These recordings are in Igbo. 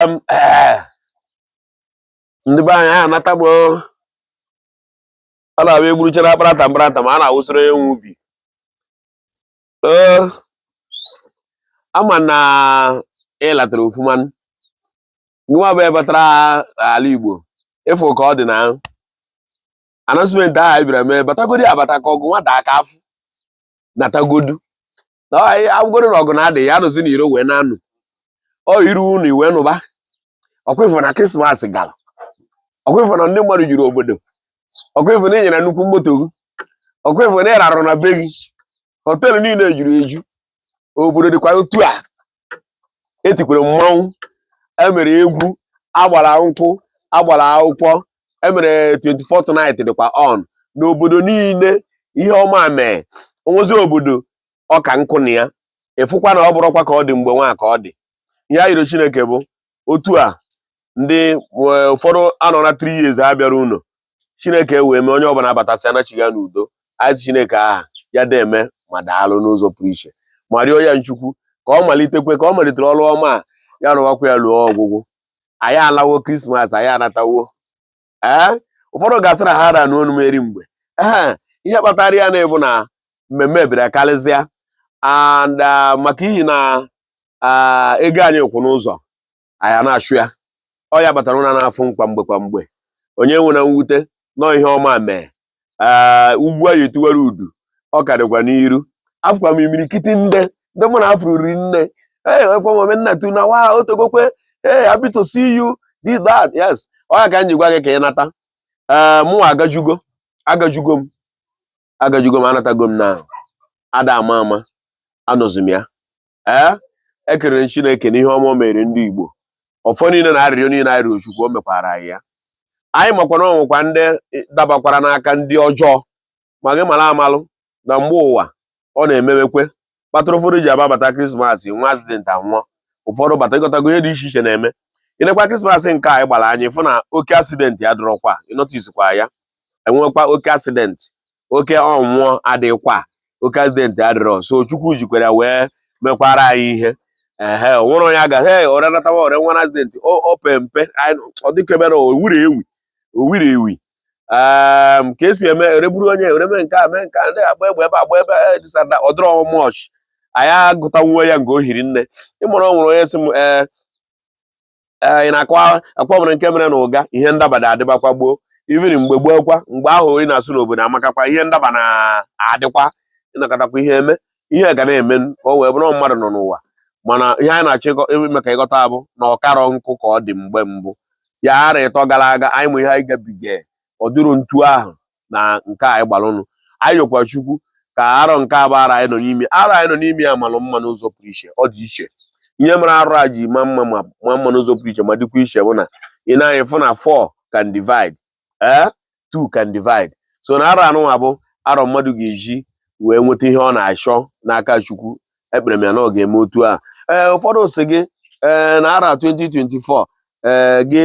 eh, ndị be anyị anata m a na-abụ egburuchara akparata mkparata ma a na-awụsịrị onye nwe ubi eh, ama na ịlatara ọfụma nwa bụ ebatara ala Igbo ịfụ ka ọ dị na announcement ahụ anyị bịara mee batagodi abata ka ọgụ nwata aka afụ natagodu na agwụgoro na ọgụ na-adị ya anụzi n'iro wee na-anụ ọ iru ụnọ i wee nụba ọkwa ị fụ na krismas gara ọkwa ị fụ na ndị mmadụ juru obodo ọkwa ị fụ na ị nyara nnukwu moto gị ọkwa ị fụ na ị rarụ na be gị họteelụ niile juru eju obodo dịkwa otu a etikwara mmanwụ emere egwu agbara nkwụ agbara akwụkwọ emere 24 night dịkwa on n'obodo niile ihe ọma mee onwezi obodo ọka nkụ na ya ịfụkwa na ọ bụrọkwa ka ọ dị mgbe nwa ka ọ dị ihe a yọrọ chineke bụ otu a ndị eh, ụfọdụ anọ na 3 years ha abịarọ ụlọ chineke wee mee onye ọbụla abatasị anachiga n'udo anyị sị chineke aha ya deme ma daalụ n'ụzọ pụrụ iche ma rịọ ya nchukwu ka ọ malitekwe ka ọ malitere ọrụ ọma a ya rụwakwa ya luo ọgwụgwụ anyị alawo krismas anyị anatawo ee ụfọdụ ga-asị na ha ra anụ onu m eri mgbe ee ihe kpatara ya na-abụ na mmemme bịara karịsịa and uh, maka ihi na uh, ego anyị kwụ n'ụzọ anyị na-achụ ya ọ ya kpatara ụra na-afụ m kwa mgbe kwa mgbe onye enwena mwute no ihe ọma mee ee ugbu a ya etiwara udu ọ ka dịkwa n'iru afụkwa m imirikiti ndị ndị mụ na afụrụ ri nne ee ekwe m omenna tu na wa otegokwe ee happy to see you this that yes ọ ya ka m ji gwa gị ka ị nata ee mụ agajugo agajugo m agajugo m anatago m na ada ama ama anọzi m ya ee ekelere m Chineke n'ihe ọma o mere ndị Igbo ọfọ niile na arịrịọ niile anyị rịọ Chukwu o mekwara anyị ya anyị makwa na ọ nwekwa ndị dabakwara n'aka ndị ọjọọ ma gị mara amalụ na mgbe ụwa ọ na-emewekwe kpatụrụ ụfọdụ ji ababata krismas nwee accident anwụọ ụfọdụ bata ịghọtago ihe dị iche iche na-eme ilekwa krismas nke anyị gbara anyị fụ na oke accident adịrọkwa ị noticekwa ya enwekwa oke accident oke ọnwụ adịkwa oke accident adịrọ so chukwu jikwara ya wee mekwara anyị ihe ehe nwere onye aga Ore natawa Ore nwere accident o pe mpe ọ dịka emere owiri ewi owiri ewi ehm, ka esi eme egburu onye emee nke a mee nke a ndị agba egbe ebe agba ebe e, this that ọdịrọ much anyị agụtawuo ya nke o hiri nne ịmụrụ ọ nwere onye sị m ee eh, ee eh, ị na-akwa akwa nwere nke mere na ụga ihe ndaba na-adịbakwa gboo even mgbe gboo kwa mgbe ahụ ị na-asị n'obodo amakakwa ihe ndaba na-adịkwa ịnọkọtakwa ihe eme ihe ga na-eme ka o wee bụrụ mmadụ nọ n'ụwa mana ihe anyị na-achọ ime ka ị ghọta bụ na ọ karọ nkụ ka ọ dị mgbe mbụ ya arọ ịtọ gara aga anyị ma ihe anyị gabiga ọ dịrị otu ahụ na nke anyị gbara ụnụ anyị yọkwa chukwu ka arọ nke a bụ arọ anyị nọ n'ime arọ anyị nọ n'ime ya malụ mma n'ụzọ pụrụ iche ọ dị iche ihe mere arọ a ji ma mma ma ma mma n'ụzọ pụrụ iche ma dịkwa iche bụ na i nee anya ị fụ na 4 can divide ee eh? 2 can divide so na arọ anụnwa bụ arọ mmadụ ga-eji wee nweta ihe ọ na-achọ n'aka chukwu ekpere m ya na ọ ga-eme otu a ee eh, ụfọdụ si gị ee eh, na arọ 2024 ee gị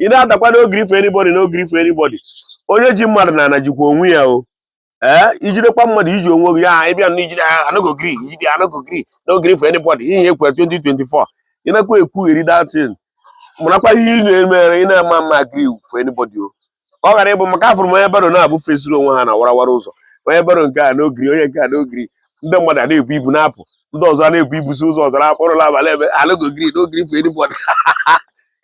ị na-adakwa no gree for anybody no gree for anybody onye ji mmadụ n'ana jikwa onwe ya o ee eh, i jidekwa mmadụ i ji onwe gị aha ị bịa na-ejide aha I no go gree ijide I no go gree no gree for anybody ihe ekwe 2024 ị nakwa ekwugheri that thing marakwa ihe ị na-emere ị na-ama mma gree for anybody o ka ọ ghara ịbụ maka afụrụ m onye barrow naabọ fesiri onwe ha na warawara ụzọ onye barrow nke a no gree onye nke a no gree ndị mmadụ a na-ebu ibu na-apụ ndị ọzọ na-ebu ibu si ụzọ ọzọ na-apụ ruo n'abalị ebe I no go gree no gree for anybody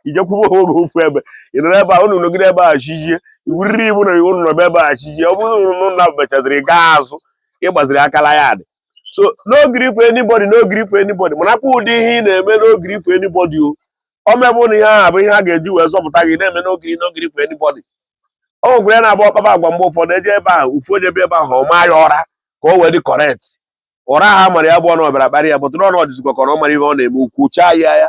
i jee kwụwa onwe gị ofu ebe ị nọrọ ebe a unu nọgide ebe a chi jie i buriri ibu na i bu nọ n'ebe ebe a chi jie ọ bụrụ na ụnụ mechaziri gaa azụ ị gbaziri aka laa ya dị so no gree for anybody no gree for anybody marakwa ụdị ihe ị na-eme no gree for anybody o ọ mebụ na ihe ahụ bụ ihe a ga-eji wee zọpụta gị na-eme no gree no gree for anybody ọ nwekwara ya na-abụ ọ kpaba agwa mgbe ụfọdụ eje ebe ahụ ọ fụ onye ebe ebe ahụ ọ maa ya ụra ka o wee dị correct ụra ha mara ya bụ ọnụ ọ bịara kparị ya bụtụ n'ọnụ ọ dịzikwa ka ọ mara ihe ọ na-eme o kwuchaa ya ya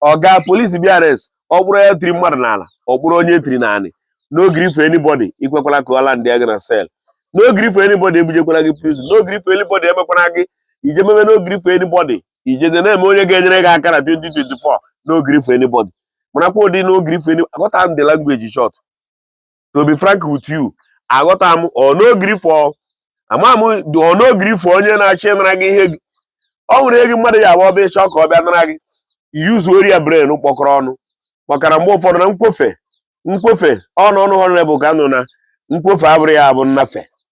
ọga polisi bịa arrest ọ kpụrụ ya tiri mmadụ n'ala ọ kpụrụ onye tiri n'anị no gree for anybody ekwekwala ka ọ landịa gị na cell no gree for anybody ebujekwala gị prison no gree for anybody emekwala gị i jee mebe no gree for anybody ije dị na-eme onye ga-enyere gị aka na 2024 no gree for anybody marakwa ụdị no gree for anybody aghọta m the language short to be frank with you aghọta m ọ no gree for ama m ọ no gree for onye na-achọ ịnara gị ihe gị ọ nwere ihe gị mmadụ ya abụ ọ bịa ịchọ ka ọ bịa nara gị use your brain kpọkọrọ ọnụ makana mgbe ụfọdụ na nkwofe nkwofe ọnụ ọnụ honorable ka nọ na nkwofe abụrụ ya abụ nnafe